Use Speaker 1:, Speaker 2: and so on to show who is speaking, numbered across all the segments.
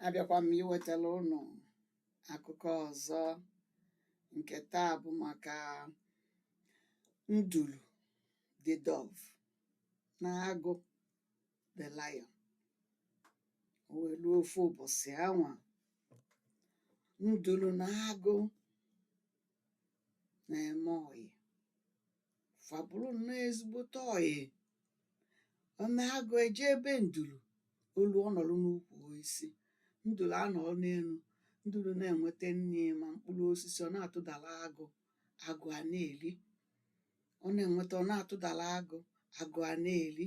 Speaker 1: abịakwa m iwetara ụnụ akụkọ ọzọ nke taa bụ maka nduru the dove na agụ the lion o wee luo ofu ụbọsị anwa nduru na agụ na-eme ọyị fa bụrụ nnọọ ezigbote ọyị o mee agụ eje ebe nduru o luo ọ nọrọ n'ukwu osisi nduru anọrọ n'enu nduru na-enweta nri ma mkpụrụ osisi ọ na-atụdara agụ agụ a na-eri ọ na-enweta ọ na-atụdara agụ agụ a na-eri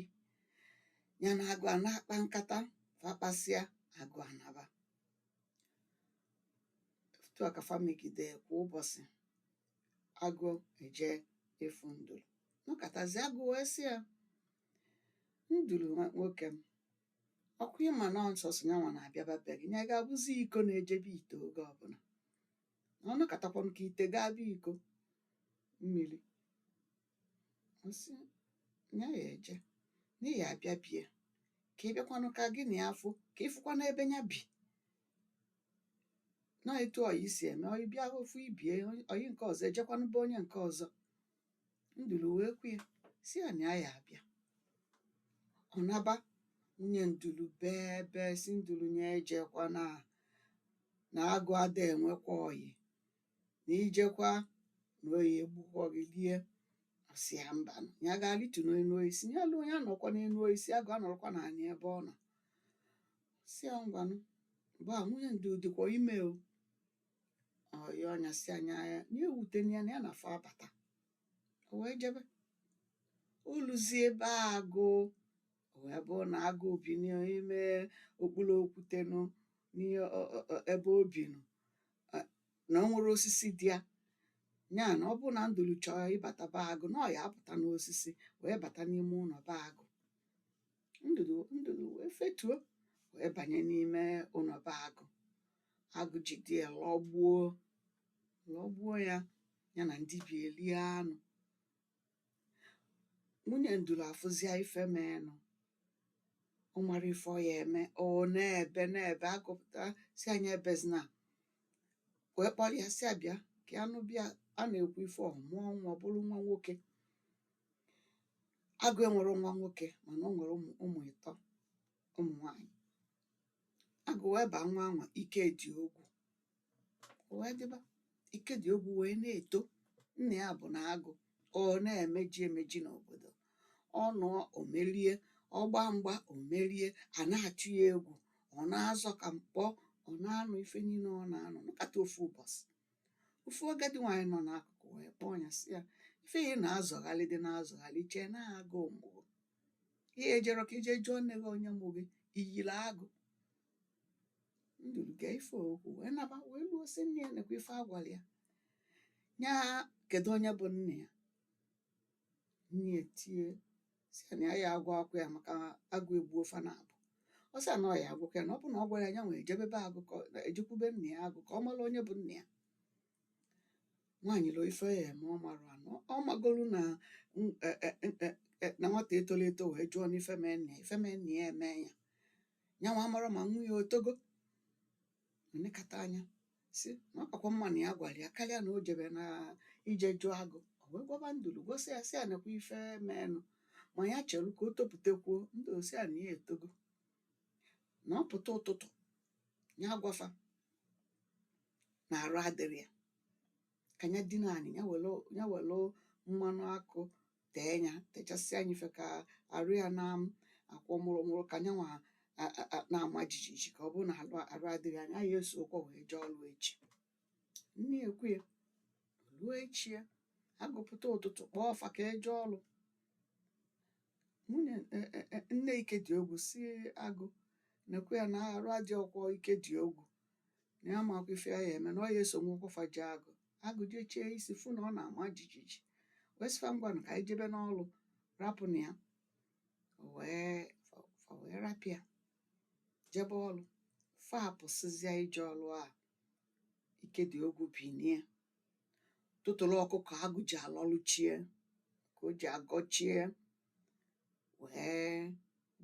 Speaker 1: nya na agụ a na-akpa nkata fa kpasịa agụ anaba otu a ka fa megide kwa ụbọsị agụ eje ịfụ nduru nọkatazi agụ wee sị ya nduru nwoke m ọ kwa ị ma na nsọsọ nya nwa na-abịaba be gị nya ga-abụzi iko na-eje be ite oge ọbụla na ọ nọkatakwanụ ka ite gaa be iko mmiri Ọ sị, ya ya eje na ị ya-abịa be ya ka ị bịakwanụ ka gị na ya fụ ka ị fụkwanụ ebe nya bi na etu ọyị si eme ọyị bịa ofu ibe ya ọyị nke ọzọ ejekwanụ be onye nke ọzọ nduru wee kwe sị ya na ya ya abịa ọ naba nwunye nduru bee bee sị nduru nya ejekwana na agụ ada enwekwa ọyị na i jekwa na ọ ya-egbukwa gị lie ọ sị ya mba na ya ga-alịtu n'enu osisi ya luo nya anọkwa n'enu osisi agụ anọrọkwa n'anị ebe ọ nọ sị ya ngwanụ mgbe a nwunye nduru dịkwa ime o ọ ya ọ nya sị ya nya ewutena ya na ya na fa abata o wee jebe o luzie ebe agụ o wee bụrụ na agụ bi n'ime okpuru okwute nụ n'ihe ọ- ọ- ọ- ebe o bi nụ eh, na o nwerọ osisi dị ya nya na ọ bụrụ na nduru chọọ ịbata be agụ na ọ ya apụta n'osisi wee bata n'ime ụnọ be agụ nduru nduru wee fetuo wee banye n'ime ụnọ be agụ agụ jide ya lọgbuo lọgbuo ya ya na ndị be ya elie anụ nwunye nduru afụzịa ife meenụ ọ marọ ife ọ ya eme ọ na-ebe na-ebe agụ pụta sị ya nya ebezina wee kpọrọ ya sị ya bịa ka ya nọ be ya a na-ekwu ife ọ mụọ nwa ọ bụrụ nwa nwoke agụ enwerọ nwa nwoke mana o nwere ụmụ ụmụ ịtọ ụmụ nwanyị agụ wee baa nwa anwa ike dị ogwu o wee dịba Ikediogwu wee na-eto nna ya bụ na agụ ọ na-emeji emeji n'obodo ọ nụọ o merie ọ gbaa mgba o merie a na-atụ ya egwu ọ na-azọ ka mkpọ ọ na-anụ ife niile ọ na-anụ nọkata ofu ụbọchị ofu agadi nwaanyị nọ n'akụkụ wee kpọọ ya sị ya ife ị na-azọgharị dị na-azọgharị chee na agụ mụrụ gị ejero ka i je jụọ nne gị onye mụ gị i yiri agụ nduru gee ife o kwu wee naba wee luo si nne ya nekwa ife a gwara ya nya kedu onye bụ nna ya nne ya tie si ya na ya ya agwakwa ya maka agụ egbuo fa naabọ ọ sị ya na ọ ya agwakwa ya na ọ bụ na ọ gwarọ ya nyanwa ejebe be agụ ka ọ- ejekwube nna ya agụ ka ọ mara onye bụ nna ya nwaanyị loo ife ya eme ọ marọ na ọ magolu na n- e- e- e- e- na nwata etoro eto wee jụọ n'ife mee nna ya ife mee nna ya eme ya ya nwa mara ma nwa ya o togo nekata anya si na ọ kakwa mma na ya gwara ya karịa na o jebe na ije jụọ agụ o wee gwaba nduru gosi ya si ya nekwa ife meenụ ma ya chere ka o topụtakwuo nduru si ya na ya etogo na ọ pụta ụtụtụ ya gwa fa na arụ adịrọ ya ka ya dina anị ya were ya were mmanụ akụ tee ya techasịa ya ife ka arụ ya na-akwọ mụrụmụrụ ka nyanwa a- a- a- na-ama jijiji ka ọ bụrụ na arụ arụ adịghị nya ya esohọkwọ wee jee ọrụ echi nne ekwe ya ruo echi ya agụ apụta ụtụtụ kpọọ fa ka e je ọrụ nwunye e- e- e- nne Ikediogwu si agụ nekwa ya na arụ adịhọkwọ Ikediogwu na ya amakwa ife ya ya eme na ọ ya esonwuhọkwọ fa jee agụ agụ jechie isi fụ na ọ na-ama jijiji wee sị fa ngwanụ ka anyị jebe n'ọlụ rapụnụ ya O wee fa- fa wee rapụ ya jebe ọlụ fa apụsịzịa ije ọlụ a Ikediogwu binie tụtụrụ ọkụkọ agụ ji alọlụ chi ya ka o ji agọ chi ya wee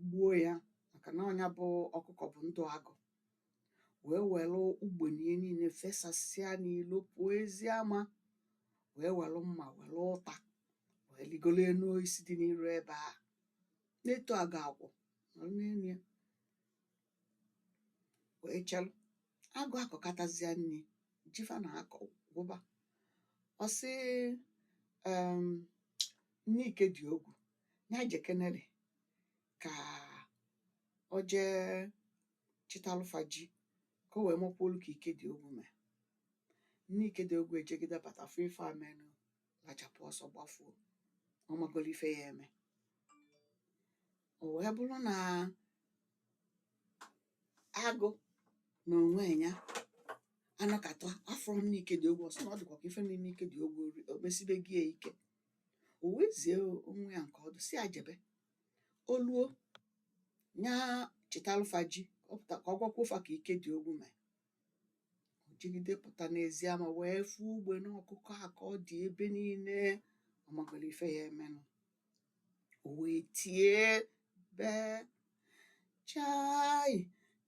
Speaker 1: gbuo ya maka na ọ nya bụ ọkụkọ bụ ndụ agụ wee were ugbene ya niile fesasịa n'ilo pụọ ezi ama wee were mma were ụta wee rigoro elu osisi dị n'iru ebe a na-eto aga agụ nọrọ n'elu ya wee chelụ agụ akọkatazịa nri ji fa na-akọ gwụba ọ sị em, nne Ikediogwu ya jekenere ka o jee chịtalụ fa ji ka o wee makwuolu ka Ikediogwu mee. Nne Ikediogwu ejegide bata fụ ife a menụ, lachapụ ọsọ gbafuo. Ọ magolu ife ya eme. O wee bụrụ na agụ na onwe ya anọkata afụrọ nne Ikediogwu ọ sị na ọ dịkwa ka ife na-eme Ikediogwu o mesibeghị ya ike. O wee zie nwa ya nke ọdụ sị ya jebe. o luo nya chịtalụ fa ji ọ pụta ka ọ gwakwuo fa ka Ikediogwu mee o jegide pụta n'ezi ama wee fụ ugbene ọkụkọ a ka ọ dị ebe niile ọ magolu ife ya emenụ o wee tie bee chai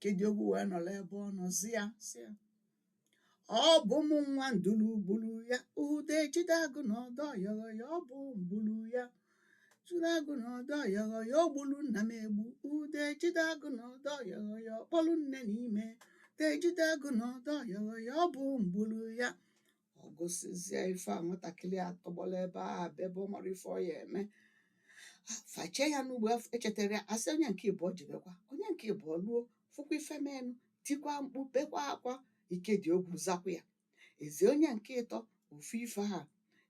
Speaker 1: Kediogwu wee nọrọ ebe ọ nọ zi ya sị ya ọ bụ mụ nwa ndulu gbulu ya ude jide agụ n'ọdọ yọghọ ya ọ bụ m gbulu ya jide agụ n'ọdọ yọghọ ya o gbulu nna m egbu ude jide agụ n'ọdọ yọghọ ya ọ kpọlụ nne n'ime ude jide agụ n'ọdọ yọghọ ya ọ bụ m gbulu ya ọ gụsịzie ife a nwatakịrị a tọgbọlọ ebe a bebe ọ marọ ife ọ ya eme fa eche ya n'ugbo af- echetarọ ya a sị onye nke ịbụọ jebekwa onye nke ịbụọ luo fụkwa ife menụ tikwa mkpu bekwa akwa Ikediogwu zakwa ya e zie onye nke ịtọ ofu ife a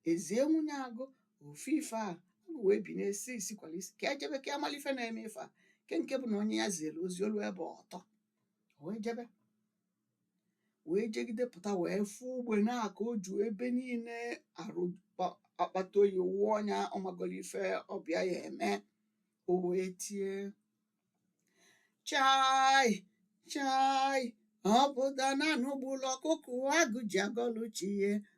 Speaker 1: e zie nwunye agụ ofu ife a agụ wee binie sị isi kwala isi ka e jebe ka a malụ ife na-eme ife a nke nke bụ na onye ya ziri ozi o luo ebe ọ tọ o wee jebe wee jegide pụta wee fụ ugbene a ka o ju ebe niile arụ kpa- akpata oyi wụọ nya ọ magolu ife ọ bịa ya eme o wee tie chai chai ọ pụta na anụ gbulu ọkụkụ agụ ji agọlụ chi ya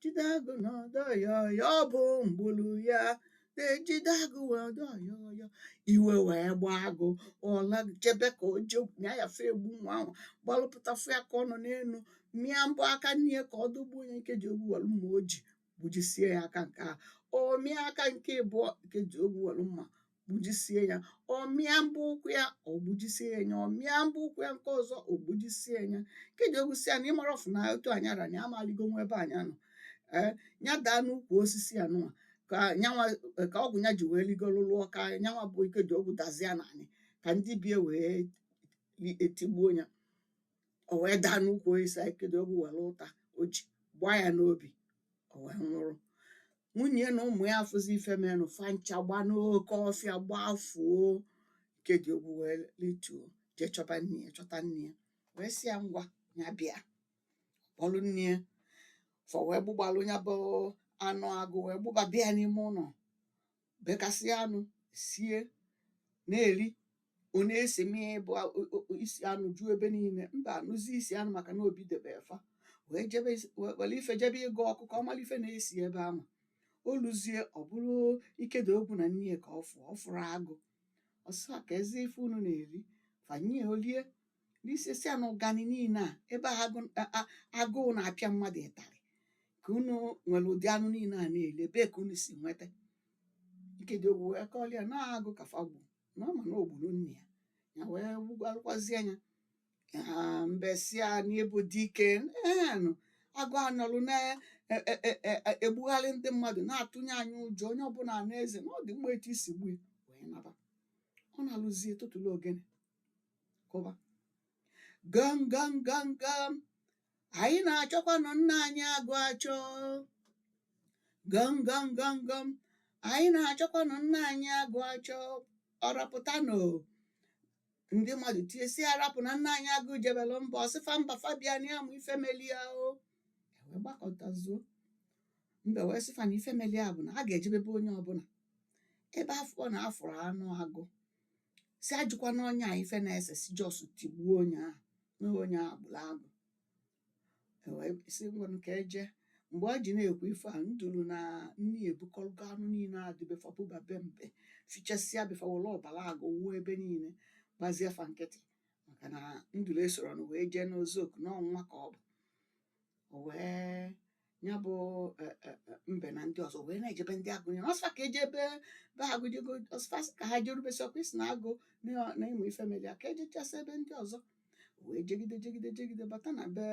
Speaker 1: jide agụ n'ọdọ yọghọ ya ọ bụ m gbulu ya ude jide agụ n'ọdọ yọghọ ya iwe wee gbaa agụ ọ la jebe ka o jee ya ya fe egbu nwa ahụ gbalụ pụta fụ ya ka ọ nọ n'enu mịa mbọ aka nni ya ka ọ dụgbuo nya Ikediogwu welu mma o ji gbujisie ya aka nke a o mịa aka nke ịbụọ Ikediogwu welu mma gbujisie ya ọ mịa mbọ ụkwụ ya o gbujisie nya ọ mịa mbọ ụkwụ ya nke ọzọ o gbujisie nya Ikediogwu sị ya na ị mara ọfụ na otu a nya ara na amaligo nwa ebe a nya nọ nya daa n'ukwu osisi a nụwa ka nyanwa ka ọgwụ nya ji wee ligolu lụọ ka nyanwa bụ Ikediogwu dazie n'anị ka ndị be ya wee li- etigbuo ya o wee daa n'ukwu osisi a Ikediogwu welu ụta o ji gbaa ya n'obi o wee nwụrụ nwunye ya na ụmụ ya afụzi ife menụ fa ncha gba n'oke ọfịa gbafuo Ikediogwu wee lituo jee chọba nne ya chọta nne ya wee sị ya ngwa nya bịa kpọlụ nne ya fa wee gbugbalụ nya bụ anụ agụ wee gbuba bịa n'ime ụnọ bekasịa anụ sie na-eri ọ na-esi mee bụ a- o- o- o- isi anụ ju ebe niile mbe anụzie isi anụ maka na o bidebe fa wee jebe is- we- were ife jebe ịgụ ọkụ ka ọ mara ife na-esi ebe ahụ o luzie ọ bụrụ Ikediogwu na nne ya ka ọ fụọ ọ fụrụ agụ ọ sị kezi ife unu na-eri fa nye o lie lisie sị ya na ụgani niile a ebe agụụ na-apịa mmadụ ịtarị ka unu nwere ụdị anụ niile a na-eli ebee ka unu si nweta Ikediogwu wee kọọlụ ya na agụ ka fa gbu na ọ ma na o gburu nna ya ya wee gwalụkwazi anya ha mbe sị ya na ị bụ dike na agụ a nọlụ na-egbugharị ndị mmadụ na-atụnye anyị ụjọ onye ọbụla na-eze na ọ dị mma etu i si gbue wee naba ọ naluzie tụtụlụ ogene kụba gam gam gam gam anyị na-achọkwanụ nna anyị agụ achọ gam gam gam gam anyị na-achọkwanụ nna anyị agụ achọ ọra pụtanụ ndị mmadụ tie sị ya rapụ na nna anyị agụ jebelụ mba ọ sị fa mba fa bịa na ya amụ ife meli ya o e wee gbakọtazuo mbe wee sị fa na ife meli ya bụ na a ga-ejebe be onye ọbụla ebe a fụ na a fụrụ anụ agụ sị ajụkwana onye a ife na-ese sị just tigbuo onye ahụ na onye ahụ gburu agụ E wee sị ngwanụ ka e je mgbe ọ ji na-ekwu ife a nduru na nne ya ebukọrọgo anụ niile a dị be fa buba be mbe fichasịa be fa were ọbara agụ wuo ebe niile gbazie fa nkịtị maka na nduru esoronụ wee jee nzukọ nọnwa ka ọ bụ o wee ya bụ e, e, e, mbe na ndị ọzọ wee na-ejebe ndị agụ niile ọ sị ka e jebe be agụ jego ọ sị ka ha jerube sị ọkwa ị sị na agụ na- na ị mụ ife mere ya ka e jechasị ebe ndị ọzọ wee jegide jegide jegide bata na be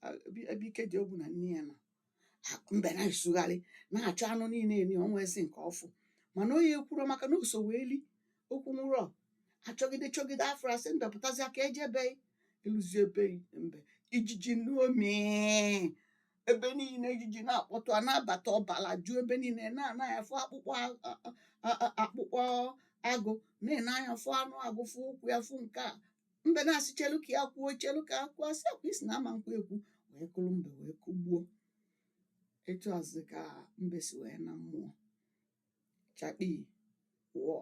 Speaker 1: a- bi- ebe Ikediogwu na nne ya nọ A- mbe na-esugharị na-achọ anụ niile e ri o nwezi nke ọ fụ mana onye ekwuro maka na o so wee li o kwunwurọ a chọgide chọgide afụrọ a sị mbe pụtazịa ka e je be ị e luzie be mbe ijiji n'omi ebe niile ijiji na-akpọtụ a na-abata ọbala ju ebe niile na-ene anya fụ akpụkpọ a- a- a- a- akpụkpọ agụ na-ene anya fụ anụ agụ fụ ụkwụ ya fụ nke a mbe na-asị chelu ka ya kwuo chelu ka ya kwuo a sị ọkwa ị sị na ama nkwu ekwu wee kụrụ mbe wee kụgbuo etu a zị ka mbe si wee naa mmụọ chakpii wọọ.